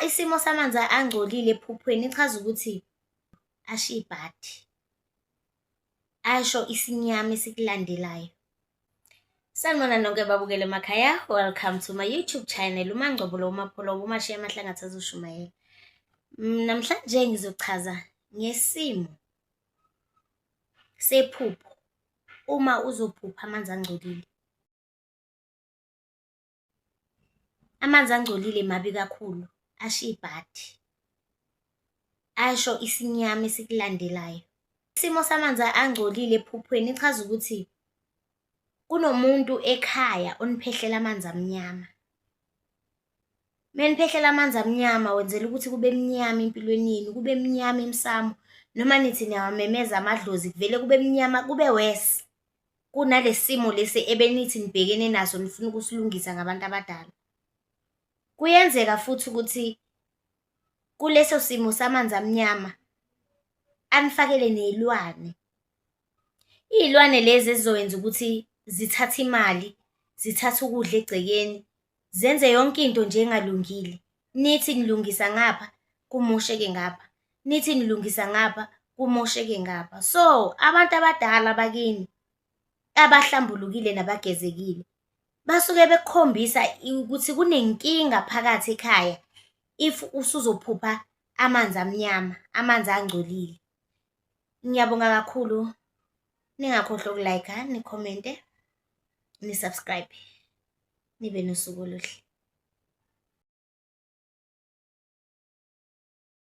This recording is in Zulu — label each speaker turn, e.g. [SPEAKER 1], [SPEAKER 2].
[SPEAKER 1] Isimo samanzi angcolile ephuphweni ichaza ukuthi asho ibhadi, asho isinyama esikulandelayo. Sanibona nonke babukele emakhaya, welcome to my YouTube channel uMangcobo lo uMapholo uMashiya amahlanga athazushumayela. Mm, namhlanje ngizochaza ngesimo sephupho uma uzophupha amanzi angcolile. Amanzi angcolile mabi kakhulu, asho ibhadi, asho isinyama esikulandelayo. Isimo samanzi angcolile ephuphweni ichaza ukuthi kunomuntu ekhaya oniphehlela amanzi amnyama. Meniphehlela amanzi amnyama wenzela ukuthi kube mnyama empilweni yenu, kube mnyama emsamo. Noma nithi niyawamemeza amadlozi kuvele kube mnyama kube worse. kunalesimo lesi ebenithi nibhekene naso nifuna ukusilungisa ngabantu abadala. Kuyenzeka futhi ukuthi kuleso simo samanzi amnyama anifakele nezilwane. Izilwane lezi ezizoyenza ukuthi zithathe imali, zithathe ukudla egcekeni, zenze yonke into nje engalungile nithi nilungisa ngapha kumosheke ngapha nithi nilungisa ngapha kumosheke ngapha so abantu abadala bakini abahlambulukile nabagezekile basuke bekukhombisa ukuthi kunenkinga phakathi ekhaya if usuzophupha amanzi amnyama amanzi angcolile ngiyabonga kakhulu ningakhohlwa ukulayikha nikhomente nisubscribe nibe nosuku oluhle